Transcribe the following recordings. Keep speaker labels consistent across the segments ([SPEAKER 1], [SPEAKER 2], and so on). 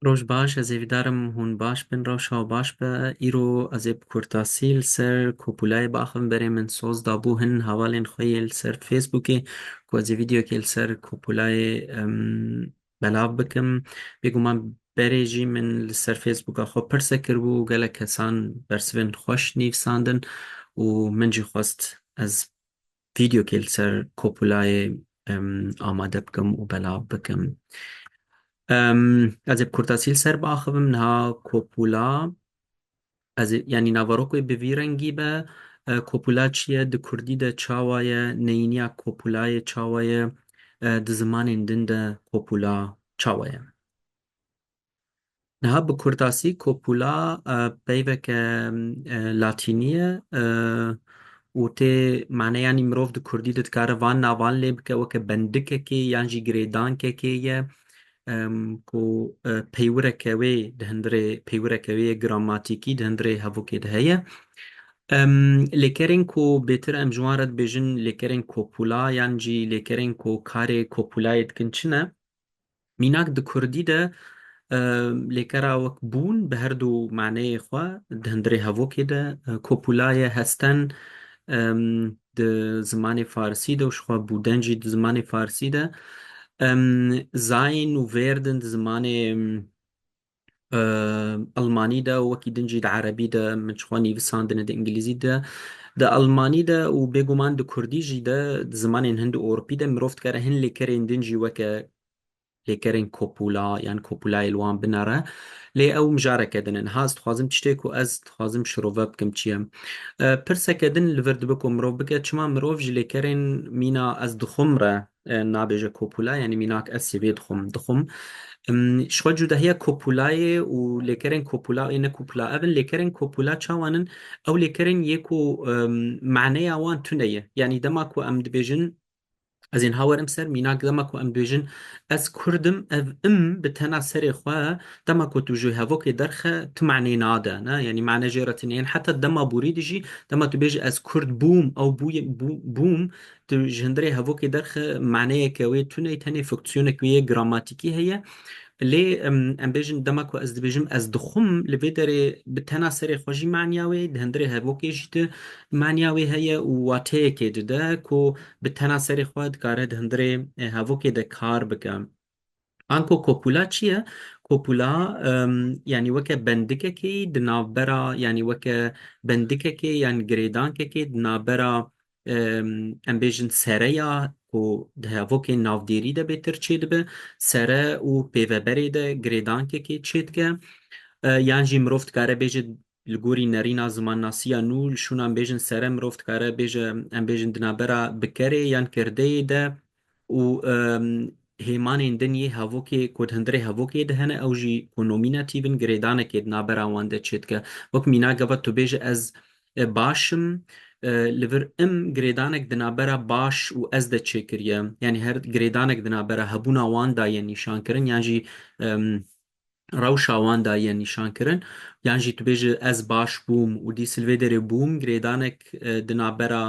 [SPEAKER 1] Roj baş, ez ê vidarim hûn baş bin, rewşa baş be. Îro ez ê bi kurtasî li ser kopulayê biaxivim. Berê min soz dabû hin hevalên xwe yê li ser Facebookê ku ez ê vîdyokê li ser kopulayê belav bikim. Bêguman berê jî min li ser Facebooka xwe pirse kiribû û gelek kesan bersivên xweş nivîsandin û min jî xwest ez vîdyokê li ser Kopulayê amade bikim û belav bikim. Ez ê bi kurtasî li ser biaxivim. Niha Kopula, ez ê yanî naverok wê bi vî rengî be. Kopula çi ye? Di kurdî de çawa ye? Neyîniya Kopulayê çawa ye? Di zimanên din de Kopula çawa ye? Niha bi kurtasî kopula peyveke latînî ye û tê mane yanî mirov di kurdî de dikare van navan lê bike weke bendikekê yan jî girêdankekê ye ku peywireke wê di hundirê peywireke wê ye gramatîkî di hundirê hevokê de heye. Lêkerên ku bêtir em ji wan re dibêjin lêkerên kopula yan jî lêkerên ku karê kopulayê dikin çi ne? Mînak di kurdî de lêkera wek bûn bi her du maneyê xwe di hundirê hevokê de kopula ye. Hesten di zimanê farsî de û jixwe bûden jî di zimanê farsî de zayin û vêrdin di zimanê Elmanî de û wekî din jî di Erebî de min ji xwe nivîsandine di Îngilîzî de di Elmanî de û bêguman di Kurdî jî de di zimanên hin di Ewropî de mirov dikare hin lêkerên din jî weke lêkerên kopûla yan kopûlayê li wan binere lê ew mijareke din in ha ez dixwazim tiştê ku ez dixwazim şirove bikim çi ye pirseke din li vir dibe ku mirov bike çima mirov ji lêkerên mîna ez dixwim re Nabêje kopula yanî mînak ez sêvê dixwim. Dixwim ji xwe cudahiya kopulayê û lêkerên kopula ê ne kopula ev in. Lêkerên kopula çawan in? Ew lêkerên yê ku maneya wan tune ye. Yanî dema ku em dibêjin ez ên ha werim ser mînak dema ku em dibêjin ez kurd im ev im bi tena serê xwe dema ku tu ji hevokê derxe ti maneyê nade ne yanî mane jê re tune yên. Heta dema borî dijî dema tu bêjî ez kurd bûm ew bûye bûm Tu ji hundirê hevokê derxe maneyeke wê tune ye, tenê funksiyoneke wê yê gramatikî heye. Lê em bêjin dema ku ez dibêjim ez dixwim li vê derê bi tena serê xwe jî maniya wê di hundirê hevokê jî di maniya wê heye û wateyekê dide ku bi tena serê xwe dikare di hundirê hevokê de kar bike. Anko kopula çi ye? Kopula yanî weke bendikekî di navbera yanî weke bendikekê yan girêdankekê di navbera em bêjin sere ya ku di hevokên navdêrî de bê tir çêdibe, sere û pêveberê de girêdankekê çêdike yan jî mirov dikare bêje Li gorî nerîna zimannasiya nû, li şûnan bêjin sere mirov dikare bêje em bêjin di navbera bikerê yan kirdeyê de û hêmanên din yê hevokê ku di hundirê hevokê de hene ew jî ku nomînatîv in girêdanekê di navbera wan de çêdike. Wek mîna gava tu bêje ez baş im li vir im girêdanek di navbera baş û ez de çêkiriye. Yanî her girêdanek di navbera hebûna wan da ye nîşankirin yan jî rewşa wan da ye nîşankirin, yan jî tu bêjî ez baş bûm û dî silvêderê bûm girêdanek di navbera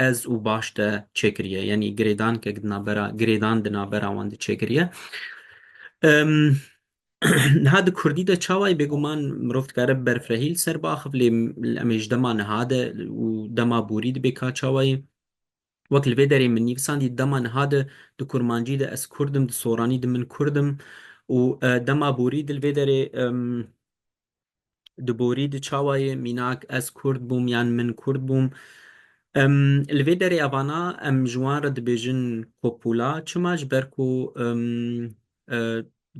[SPEAKER 1] ez û baş de çêkiriye, yanî girêdankek di navbera girêdan di navbera wan de çêkiriye. Niha di kurdî de çawayî bêguman mirov dikare bi berfirehî li ser biaxivin lê em ê ji dema niha de û dema borî dibê ka çawayî Wek li vê derê min nivîsandî dema niha di di kurmancî di ez kurd im, di soranî di min kurd im û dema borî di li vê derê di borî di çawa yê mînak ez kurd bûm yan min kurd bûm. Li vê derê evana em ji wan re dibêjin kopûla çima ji ber ku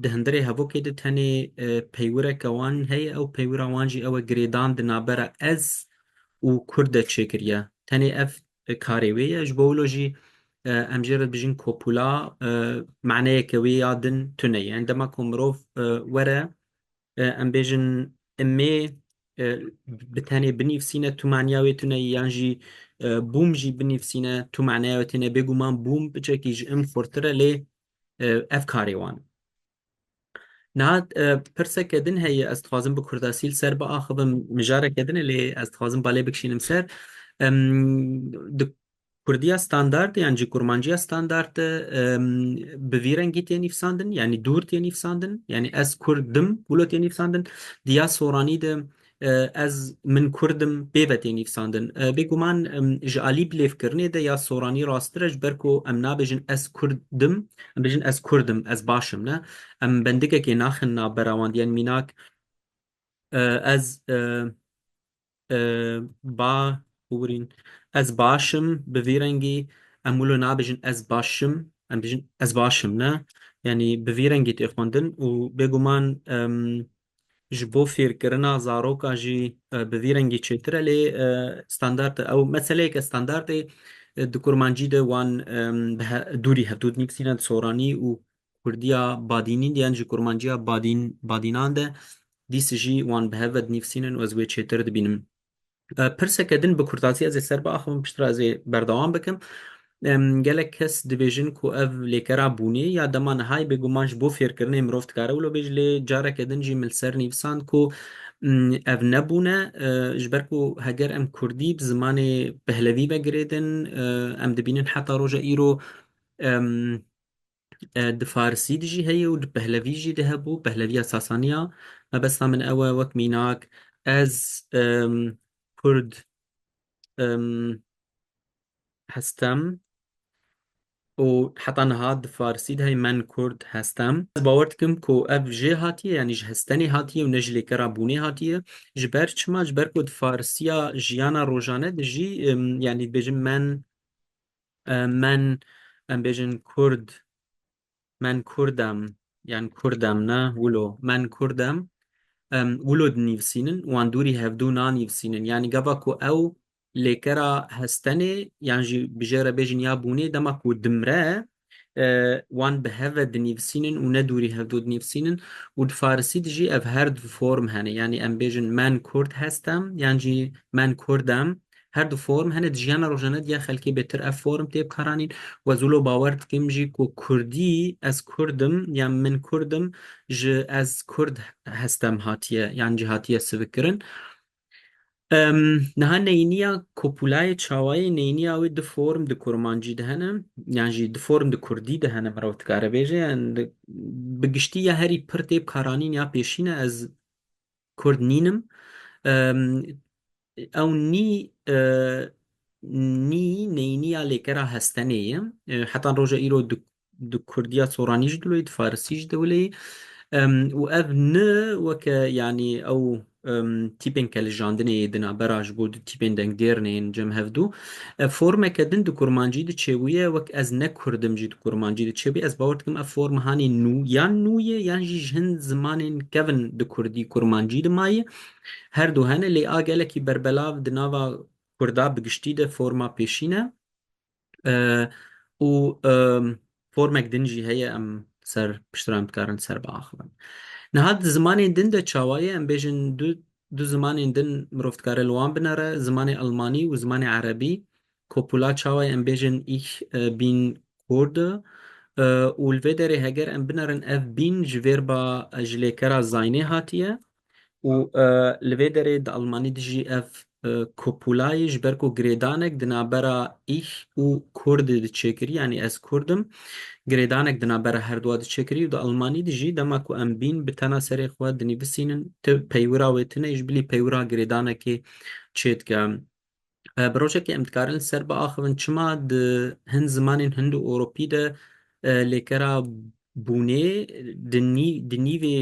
[SPEAKER 1] Di hundirê hevokê de tenê peywireke wan heye, ew peywira wan jî ew e girêdan di navbera ez û kurd de çêkiriye. Tenê ev karê wê ye. Ji bo wilo jî em jê re dibijin kopula maneyeke wê ya din tune ye. Dema ku mirov were em bêjin imê bi tenê binivsîne tu maniya wê tune yî yan jî bûm jî binivsîne tu maneya wê tune bêguman bûm biçekî ji im xurtir e lê ev karê wan in. Niha pirseke din heye ez dixwazim bi kurdasî li ser biaxivim mijareke din e lê ez dixwazim balê bikişînim ser. Di kurdiya standard yan jî kurmanciya standard de bi vî rengî tê nîvsandin yanî dûr tê nîvsandin yanî ez kurd dim wilo tê nîvsandin. Di ya soranî de Ez, min kurd im, pê ve tê nivîsandin. Bêguman ji alî bilêvkirinê de ya soranî rasttir e ji ber ku em nabêjin ez kurd im, em bêjin ez kurd im, ez baş im ne. Em bendikekê naxin navbera wan diyên mînak ez ba hûrîn, ez baş im bi vî rengî em wilo nabêjin ez baş im, em bêjin ez baş im ne. Yanî bi vî rengî tê xwendin û bêguman ji bo fêrkirina zarokan jî bi vî rengî çêtir e lê standard e. Ew meseleyeke standard ê di kurmancî de wan bi dûrî hevdût nivîsîne di soranî û kurdiya badînîn de yan jî kurmanciya badînan de dîs jî wan bi hev ve dinivîsînin û ez wê çêtir dibînim. Pirseke din bi kurtazî ez ê ser biaxivim piştre ez ê berdewam bikim. Gelek kes dibêjin ku ev lêkera bûnê ya dema nihayê bêguman ji bo fêrkirinê mirov dikare wilo bêje lê careke din jî min li ser nivîsand ku ev ne bûn e ji ber ku heger em kurdî bi zimanê pehlevî ve girêdin em dibînin heta roja îro Di farisî de jî heye û di pehlevî jî de hebû, pehleviya Sasanî ya. Mebesta min ew e wek mînak ez kurd hestem û heta niha di farisî de heye men kurd hestem. Ez bawer dikim ku ev jê hatiye yanî ji hestenê hatiye û ne ji lêkera bûnê hatiye. Ji ber çima? Ji ber ku di farisiya jiyana rojane de jî yanî dibêjin men Men em bêjin kurd men kurd em yan kurd em ne wilo men kurd em wilo dinîvsînin wan dûrî hevdû nanîvsînin yanî gava ku ew lêkera hestenê yan jî bi jê re bêjin ya bûnê dema ku dimre wan bi hev ve dinîvsînin û ne dûrî hevdû dinîvsînin û di farisî de jî ev her du form hene yanî em bêjin men kurd hest em yan jî men kurd em Her du form hene di jiyana rojane de ya xelkê bêtir ev form tê bikaranîn we zûlo bawer dikim jî ku kurdî ez kurd im yan min kurd im ji ez kurd hestem hatiye yan jî hatiye sivikkirin. Niha neyniya kopulayê çawayê neyniya wê du form di kurmancî de hene yan jî du form di kurdî de hene mirov dikare bêje yan bi giştî ya herî pir tê bikaranîn ya pêşîne ez Kurd nînim. Ew nî nî neyniya lêkera hestenê ye. Heta roja îro di kurdiya soranî jî dilo yî, di farisî jî dilo yî. Û ev ni weke yanî ew tîpên ke lijandinê yê di navbera ji bo du tîpên dengdêrnê yên cem hevdu. Ev formeke din di kurmancî de çêbûye, wek ez ne kurd im jî di kurmancî de çêbûye. Ez bawer dikim ev form hanê nû yan nû ye yan jî ji hin zimanên kevn di kurdî kurmancî de maye. Her du hene lê a gelekî berbelav di nava kurda bi giştî de forma pêşîn e û Formek din jî heye em ser piştiran dikarin ser biaxivin. Niha di zimanên din de çawa ye? Em bêjin du du zimanên din mirov dikare li wan binere, zimanê elmanî û zimanê erebî. Kopula çawa ye? Em bêjin ich bin Kurde û li vê derê heger em binerin ev bin ji vêr ba ji lêkera Zaynê hatiye. Û li vê derê di Almanî de jî ev kopulayî ji ber ku girêdanek di navbera Ich û Kurdê de çêkirî yanî ez Kurd im girêdanek di navbera herduwa de çêkirî û di Almanî de jî dema ku em bîn bi tena serê xwe dinivîsînin tu peywira wê tune ji bilî peywira girêdanekê çêdike. Bi rojekê em dikarin li ser biaxivin çima di hin zimanên hind û ewropî de lêkera bûnê di nîvê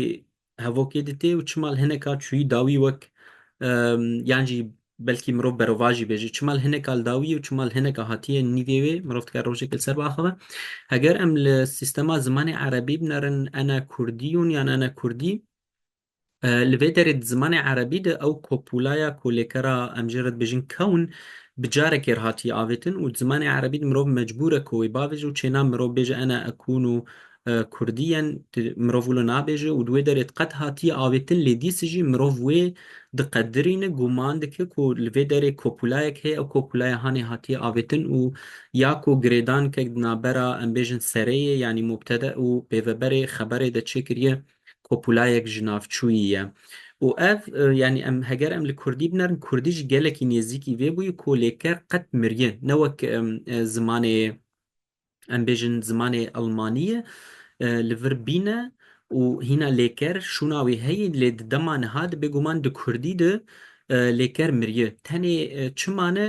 [SPEAKER 1] hevokê dite û çima li hineka çûyî dawî wek yan jî belkî mirov berovan jî bêje çima li hineka li dawî û çima li hineka hatiye nîvê wê mirov dikare rojekê li ser biaxive heger em li sîstema zimanê erebî binerin ene kurdî hûn yan ene kurdî li vê derê di zimanê erebî de ew kopûlaya ku lêkera em jê re dibêjin kewn bi carekê re hatiye avêtin û di zimanê erebî de mirov mecbûr e ku wê bavêje û çêna mirov bêje ene ekûn û Kurdî yen mirov wilo nabêje û di wê derê diqet hatiye avêtin lê dîs jî mirov wê diqedirîne gûman dike ku li vê derê kopulayek heye ew kopulaya hanê hatiye avêtin û ya ku girêdankek di navbera em bêjin sereyê yanî mubtede û pêveberê xeberê de çêkiriye kopulayek ji navçûyî ye û ev yanî em heger em li Kurdî binerin Kurdî jî gelekî nêzîkî vê bûye ku lê ker qet miriye ne wek zimanê em bêjin zimanê Elmanî ye, li vir bîn e û hîna lêker şûna wî heye lê di dema niha de bêguman di kurdî de lêker miriye. Tenê çi mane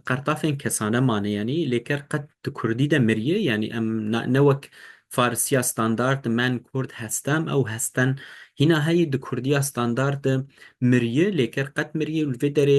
[SPEAKER 1] qertafên kesane mane yanî lêker qet di kurdî de miriye yanî em ne wek farisiya standard de men kurd hestem ew hestin hîna heye di kurdiya standard de miriye lêker qet miriye û li vê derê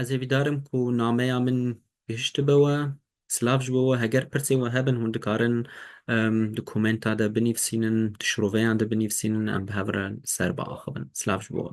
[SPEAKER 1] Ez ê vîdar im ku nameya min gihiştibe we. Silav ji bo we. Heger pirsên we hebin hûn dikarin di komenta de binivîsînin, di şiroveyan de binivîsînin em bi hev re li ser biaxivin. Silav ji bo we.